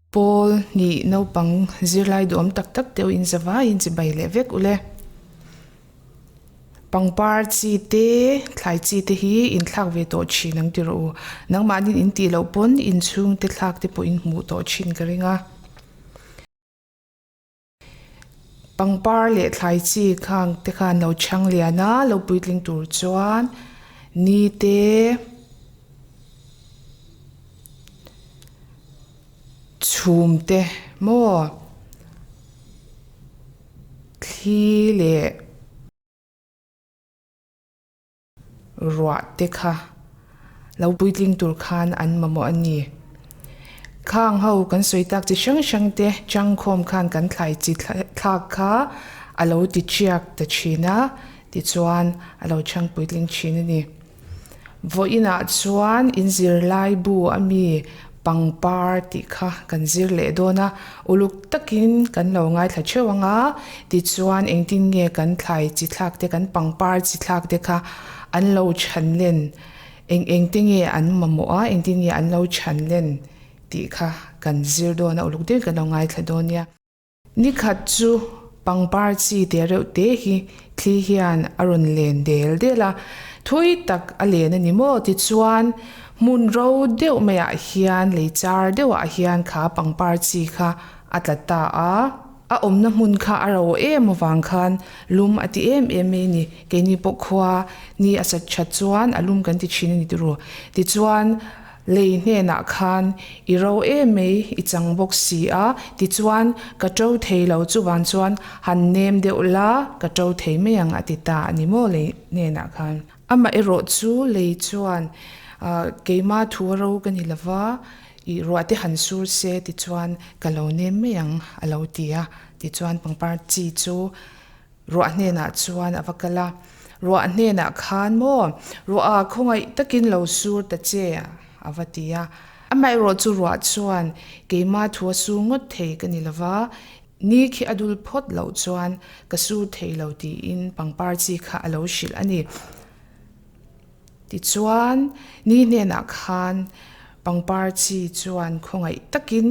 Paul nih naupang zirlai duh awm tak tak deuh in zavai in chibai leh vek u le. Pangpar chi te, thlai chi te hi in thlak ve tawh thin ang ti rawh u. Nangmahnin in tih loh pawn inchhung te thlak te pawh in hmuh tawh thin ka ring a. Pangpar leh thlai chi khang te khan lo chhang lian a, lo puitling tur chuan ni te chhum te maw thli leh. ruah te kha lo puitling tur khan an mamawh a ni. Khang ho kan sawi tak chi hrang hrang te changkhawm khan kan thlai chi thlak kha a lo tichiak ta thin a, tichuan a lo chhang puitling thin a ni. Vawiinah chuan in zirlaibu a mi. pangpar tih kha kan zir leh dawn a, uluk takin kan lo ngaithla theuh ang a, tichuan engtin nge kan thlai chi thlak te, kan pangpar chi thlak te kha an lo chhan len, eng eng te nge an mamawh a, engtin nge an lo chhan len tih kha kan zir dawn a, uluk deuhin kan lo ngaithla dawn nia. Ni khat chu pangpar chi te reuh te hi thli hian a rawn len del del a, thawi tak a len a ni maw tichuan hmun ro deuh mai ah hian lei char deuh ah hian kha pangpar chi kha a tla ta a, a awmna hmun kha a ro em avang khan lum a ti em em mai a ni, keini pawh khua ni a sat chat chuan a lum kan ti thin a ni turu tichuan. Lei hnenah khan, I ro em mai i chang bawk si a, tichuan, Ka ṭo thei lo chuvang chuan han nem deuh la, ka ṭo thei mai ang a ti ta a ni maw Lei hnenah khan. Amah erawh chu Lei chuan, Ahh, keimah thu a ro ka ni lo va, i ruahte han sur se tichuan ka lo nem mai ang a lo ti a, tichuan pangpar chi chu Ruah hnenah chuan a va kal a, Ruah hnenah khan maw, Ruah-a khawngaih takin lo sur ta che, a va ti a. Amaherawh chu Ruah chuan, Keimah thu a sur ngawt thei ka ni lo va, ni khi a dul phawt loh chuan ka sur thei lo tiin pangpar chi kha a lo hrilh a ni. Tichuan, ni hnenah khan pangpar chi chuan khawngaih takin,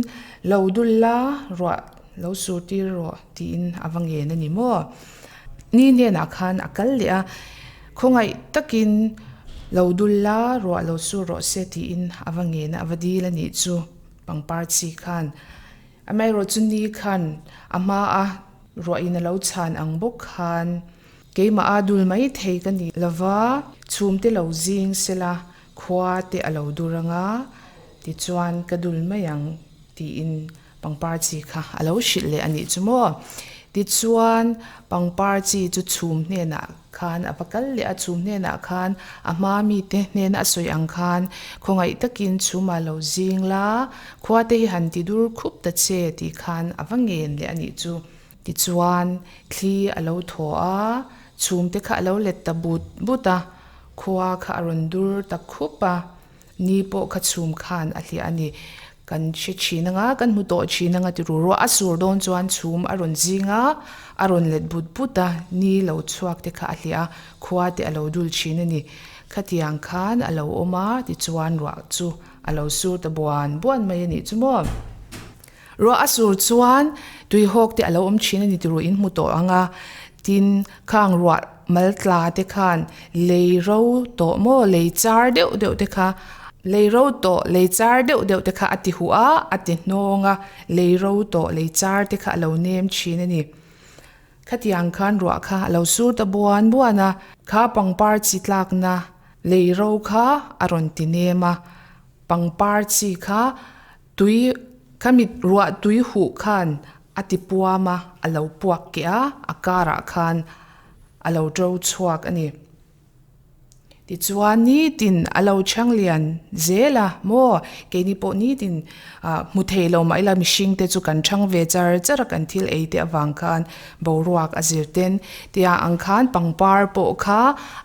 Lo dul la ruah, lo sur tir rawh tiin a va ngen a ni maw? Ni hnenah khan a kal leh a, khawngaih takin, Lo dul la ruah, lo sur rawh se tiin a va ngen a, a va dil a nih chu pangpar chi khan. Amaherawhchu ni khan a hmaa ruahin a lo chhan ang bawk khan. Keimah a dul mai thei ka nih lova, chhum te lo zing sela, khua te a lo dur anga, tichuan ka dul mai ang tiin pangpar chi kha a lo hrilh leh a nih chu maw. Tichuan pangpar chi chu chhum hnenah khan a va kal leh a, chhum hnenah khan a hma mite hnena a sawi ang khan khawngaih takin chhumah lo zing la, khua te hi han ti dur khup ta che tih khan a va ngen leh a nih chu. Tichuan, thli a lo thaw a, chhumte kha a lo let ta but but a, khua kha a rawn dur ta khup a, ni pawh kha chhum khan a hliah a ni. Kan hre thin a nga, kan hmu tawh thin a nga ti ru ruah. A sur dawn chuan chhum a rawn zing a, a rawn let but but a, ni lo chhuak te kha a hliah a, khua te a lo dul thin a ni. Khatiang khan a lo awm a, tichuan ruah chu a lo sur ta buan buan mai a nih chu maw. Ruah a sur chuan tuihawk te a lo awm thin a ni tihruh in hmu tawh ang a, tin, khang ruah mal tla te khan lei ro tawh maw, lei char deuh deuh te kha, lei ro tawh, lei char deuh deuh te kha a ti huh a, a ti hnawng a, lei ro tawh, lei char te kha a lo nem thin a ni. Khatiang khan ruah kha a lo sur ta buan buan a, kha pangpar chi tlakna lei ro kha a rawn ti nem a, pangpar chi kha. Tui, ka mit ruah tui huh khan a ti puam a, a lo puak keh a, a karah khan a lo to chhuak a ni. Tichuan nitin a lo chhang lian zel a maw, keini pawh nitin ah hmu thei lo mah ila mihring te chu kan chhang ve char char a, kan thil ei te avang khan boruak a zir ten tia ang khan pangpar pawh kha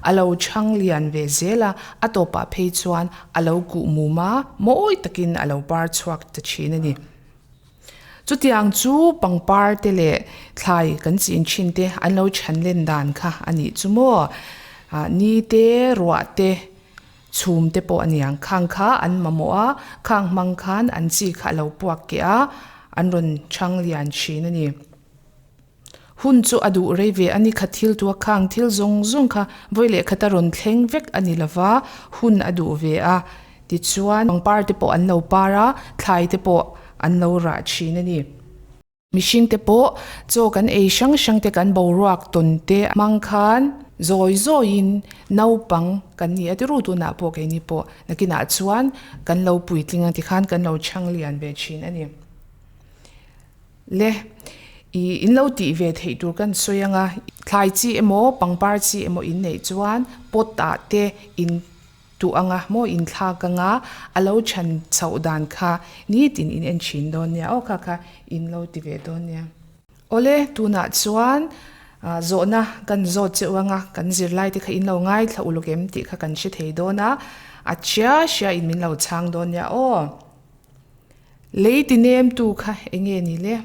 a lo chhang lian ve zel a, a tawpah phei chuan. a lo kuh mum a, mawi takin a lo par chhuak ta thin a ni. Chutiang chu pangpar te leh thlai kan chin thin te an lo chhan len dan kha a nih chu maw. Ni te, ruah te, chhum te pawh a niang. Khang kha an mamawh a, khang hmang khan an chi kha a lo puak keh a, an rawn chhang lian thin a ni. Hun chu a duh rei ve a ni kha thil tua khang thil zawng zawng kha vawi leh khata rawn thleng vek a ni lova hun a duh ve a tichuan pangpar te pawh an lo par a thlai te pawh an lo rah thin a ni. Mihring te pawh chaw kan ei hrang hrang te kan boruak tawn te hmang khan zawi zawi in naupang kan ni a tiru tunah pawh keini pawh nakinah chuan kan lo puitling ang tikhan kan lo chhang lian ve thin a ni. Le i in lo tih ve theih tur kan sawi ang a, thlai chi emaw pangpar chi emaw in neih chuan pot ah te in tuh ang a maw in thlak ang a, a lo chhan chhoh dan kha nitin in en thin dawn nia aw kha kha in lo ti ve dawn nia. Aw le tunah chuan zawhna kan zawt cheu ang a, kan zirlai te kha in lo ngaithla uluk em tih kha kan hre thei dawn a, a hria hria in min lo chhang dawn nia aw. Lei ti nem tu kha enge ni le?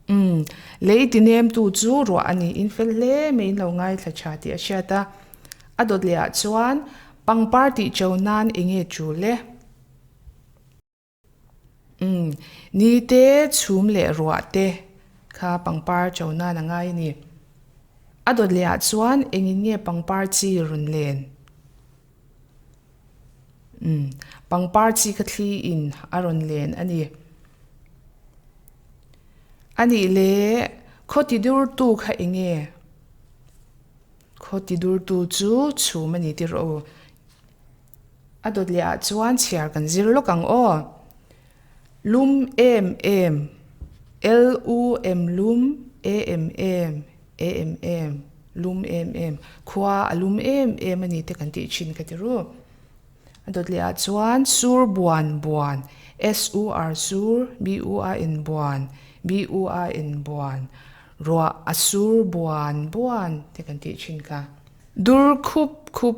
Umm, lei ti nem tu chu ruah a ni, in fel hle mai in lo ngaithla tha tih a hriat a. A dawt leh ah chuan pangpar tih cho nan enge chu le? Umm, ni te, chhum leh ruah te kha pangpar cho nan a ngai a ni. A dawt leh ah chuan engin nge pangpar chi rawn len? Pangpar chi kha thli in a rawn len a ni. A nih le, khaw ti dur tu kha eng nge? Khaw ti dur tu chu chhum a ni tih rawh aw. A dawt leh ah chuan chhiar kan zir lawk ang aw. Lum em em, L U M lum e em em, e em em, lum em em. Khua a lum em em a ni te kan tih thin ka ti ru. A dawt leh ah chuan sur buan buan, S U R sur, B U A N buan, B U A N buan. Ruah a sur buan buan te kan tih thin kha. Dur khup khup.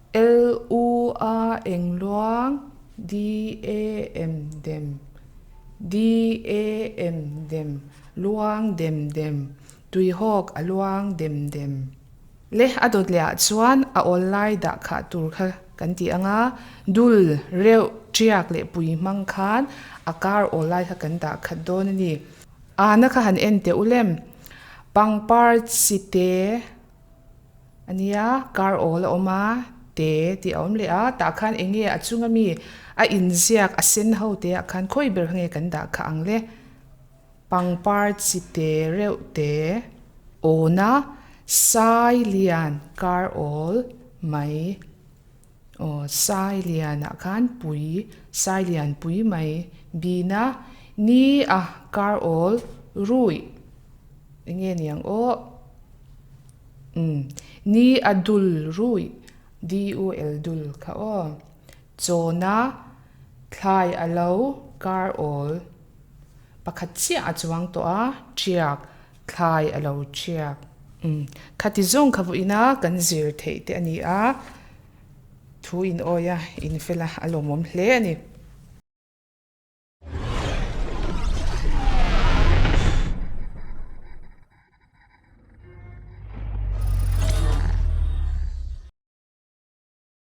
LU a eng luang DA em dem DA em dem luang dem dem Tuihawk a luang dem dem. Le a dawt leh ah chuan a awl lai dah khah tur kha kan ti anga dul reuh tiak leh pui hmang khan a kar awl lai kha kan dah khat dawn ani ahna kha han en teh u lem pangpar chi te A nia, kar awl a awm a, te tih a awm leh a, tah khan eng nge a chunga mi a inziak a sen ho te ah khan khawi ber nge kan dah kha ang le? Pangpar chi te reuh te awna sai lian kar awl mai. Aw, Sailiana khan pui, Sailian pui mai, Bina, ni a, kar awl, ruih, i nge niang aw, umm, ni a dul, ruih, DUL, dul, kha aw, Chawna, thlai a lo, kar awl, pakhat chiah a chuang tawh a, Chiak, Thlai a lo chiak. Umm. Khati zawng kha vu ina kan zir theih te a ni a, thu in awi a, in fel a, a lawmawm hle a ni.